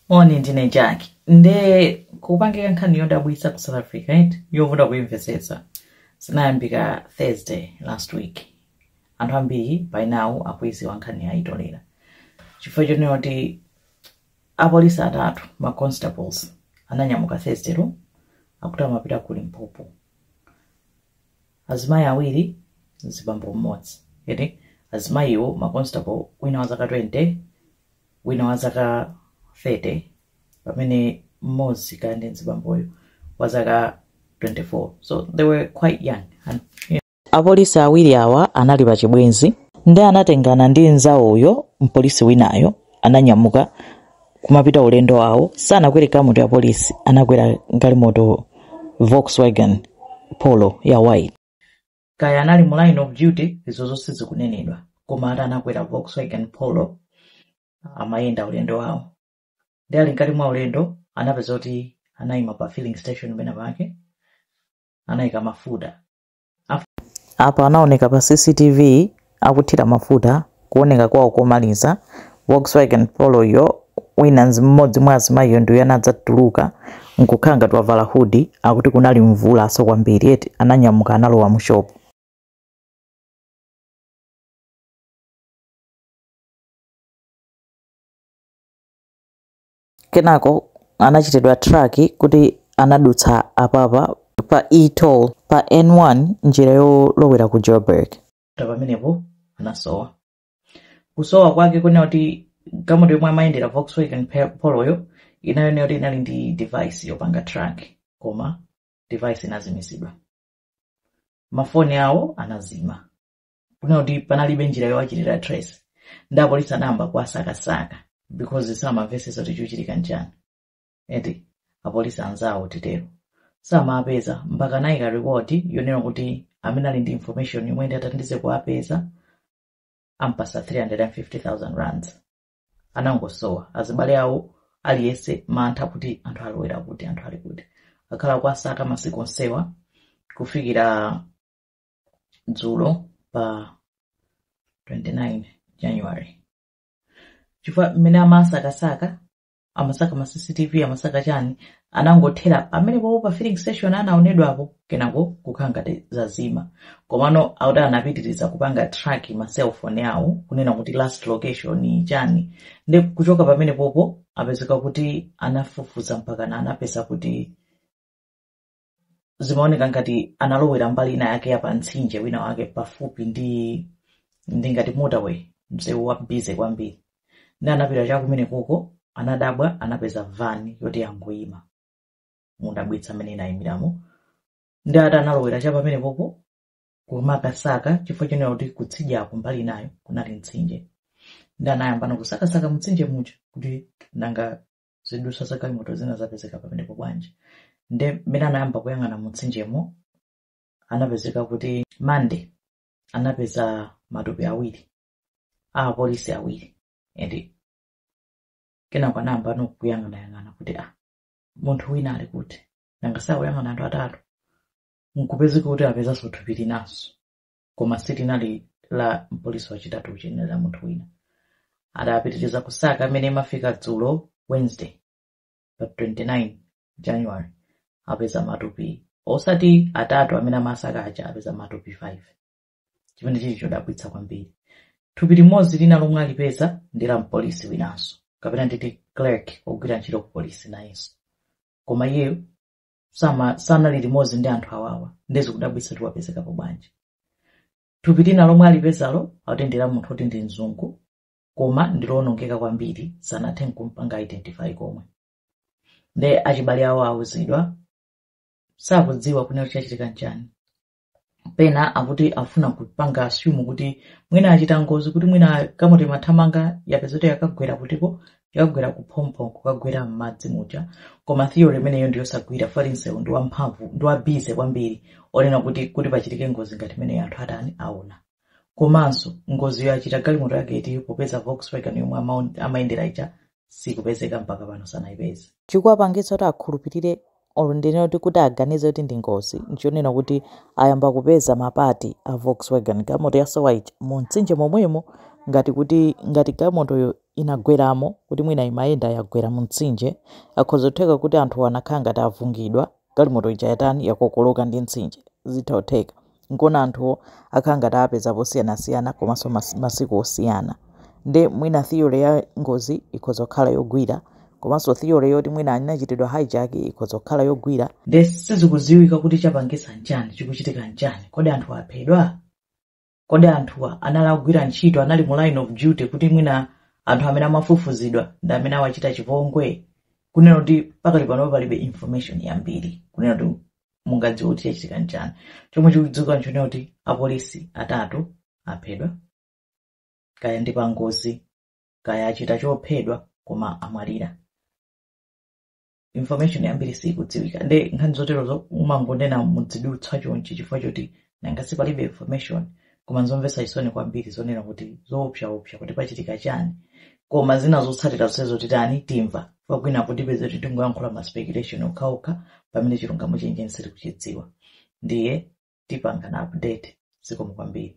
moni ndine jack nde kwapangika nkhani yodabwitsa ku south africa eti yovuta kuimvetsetsa zinayambika thursday last week anthu ambiri by now akuiziwa nkhaniyi ayitolera chifukwa chonena kuti apolisi atatu ma constables ananyamuka thursdaylo akuti amapita ku limpopo azimayi awiri mzibambo mmodzi eti azimayiwo ma constable wina wa zaka 20 wina wa zaka 30 pamene mmodzi ka ndi mzibamboyo wa zaka 24 so they were quite young and apolisi awiri awa anali pa chibwenzi ndi anatengana ndi nzawoyo mpolisi winayo ananyamuka kumapita ulendo wawo sanakwere galimoto ya polisi anakwera galimoto volkswagen polo ya white kaya anali mu line of duty izo zonse zikunenedwa koma ati anakwera volkswagen polo amayenda ulendo wawo ndi ali mkati mwa ulendo anapezeka kuti anayima pa filling station pena pake anayika mafuta Apa anaoneka pa CCTV akuthira mafuta kuoneka kwawo komaliza Volkswagen Poloyo wina mmodzi mwa azimayiyo ndiye anadzatuluka nkukhala ngati wavala hoodie akuti kunali mvulaso kwambiri eti ananyamuka analowa mu shop Kenako anachitidwa track kuti anadutsa apapa pa e-toll pa N1 njira yolowera ku Joburg. Pamenepo anasowa. Kusowa kwake kunena kuti galimoto yomwe amayendera Volkswagen Poloyo inayoneka kuti inali ndi device yopanga track koma device inazimizidwa. Mafoni awo anazima. kunena kuti panalibe njira yowachitira trace ndi apolisi anayamba kuwasakasaka because samamvetsetsa kuti chikuchitika nchani eti apolisi anzawo titero samawapeza mpaka anayika reward yonena kuti amene ali ndi information yomwe ndi athandize kuwapeza ampatsa 350,000 rands anangosowa azibale awo aliyese mantha kuti anthu alowera kuti anthu ali kuti akhala akuwasaka masiku onsewa kufikira dzulo pa 29 january chifukwa mmene amasakasaka amasaka ma cctv amasaka chani anangothera pamenepopo pa filling station anaonedwapo kenako kukhala ngati zazima komano akuti anapitiriza kupanga track ma cellphone awo kunena kuti last location chani ndi kuchoka pamenepopo apezeka kuti anafufuza mpakana anapeza kuti zimaoneka ngati analowera mbali ina yake ya pamtsinje wina wake pafupi ndi ndi ngati motorway msewu wa bize kwambiri ndi anapita cha kumene koko anadabwa anapeza vani yoti yangoyima modabwitsa mmene inayimiramo ndi ati analowera cha pamene popo kumakasaka chifukwa chonena kuti kutsidyako mbali inayo kunali mtsinje ndi anayambano kusakasaka mtsinje muja kuti nanga zidutswa za galimoto zina zapezeka pamenepo bwanji nde mmene anayamba kuyang'ana mutsinjemo anapezeka kuti mande anapeza matupi awiri a apolisi awiri ende kenako anayambano kuyang'anayang'ana kuti munthu wina ali kuti nanga si akuyang'ana anthu atatu nkupezeka kuti apezanso thupi linanso koma silinali la mpolisi wachitatu uja linali la munthu wina adapitiriza kusaka mmene imafika dzulo wednesday pa 29 january apeza matupi osati atatu amene amasaka aja apeza matupi 5 chimene chili chodabwitsa kwambiri thupi limodzi lina lomwe alipeza ndi la mpolisi winanso kapena nditi clerk ogwira ntchito ku polisi nayenso koma iyeyo sanali limodzi ndi anthu awawa nde zikudabwitsa kuti wapezekapo bwanji thupi lina lomwe alipezalo akuti ndi la munthu oti ndi mzungu koma ndilowonongeka kwambiri sanathenso kumpanga identify komwe nde achibale awo awuzidwa sakudziwa kunena kuti chachitika nchani pena akati afuna kupanga assume kuti mwina achita ngozi kuti mwina galimoto imathamanga yapezeka kuti yakagwera kutiko yakagwera kuphompho kukagwera m'madzi muja koma theory imeneyo ndiyosagwira chifukwa msewu ndi wamphamvu ndi wabize kwambiri onena kuti pachitike ngozi ngati imeneyo anthu atani awona komanso ngoziyo achita galimoto yake iti popeza volkswagen yomwe amaun- amayendera ija sikupezeka mpaka pano sanayipeze chikuwapangitsa kuti akhulupirire olo ndinene kuti kuti aganize kuti ndi ngozi nchonena kuti ayamba kupeza mapati a volkswagen galimoto yasowa ija mu mtsinje momwemo ngati kuti ngati galimotoyo inagweramo kuti mwina imayenda yagwera mu mtsinje zikhoza kutheka kuti anthuwo anakhala ngati avungidwa Galimoto ija yatani yakokoloka ndi mtsinje. Zitha kutheka. Nkona anthuwo akhala ngati awapeza posiyanasiyana komanso mas, masiku osiyana. Nde mwina theory ya ngozi ikhoza kukhala yogwira komanso theory yoti mwina anachitidwa hijack ikhoza kukhala yogwira. Nde sizikudziwika kuti chapangitsa nchani, chikuchitika nchani. Kodi anthu aphedwa? kodi anthuwa anali akugwira ntchito anali mu line of duty kuti mwina anthu amene amafufuzidwa ndi amene awachita chipongwe kunena kuti pakali pano palibe information yambiri kunena kuti mungadziwe kuti chachitika nchani chomwe chikudziwika nchonena kuti apolisi atatu aphedwa kaya ndi pangozi kaya achita chophedwa koma amwalira information yambiri sikudziwika nde nkhani zoterozo umangonena mu zidutswa chonchi chifukwa choti nanga sipalibe information koma nzomvetsa chisoni kwambiri zonena kuti zoopsaopsa kuti pachitika chani koma zina zotsatira zonsezo titani timva pakwina kuopeza kuti tingoyankhula ma speculation okhaokha pamene chilungamo chenicheni sitikuchidziwa ndiye tipangana update zikomo kwambiri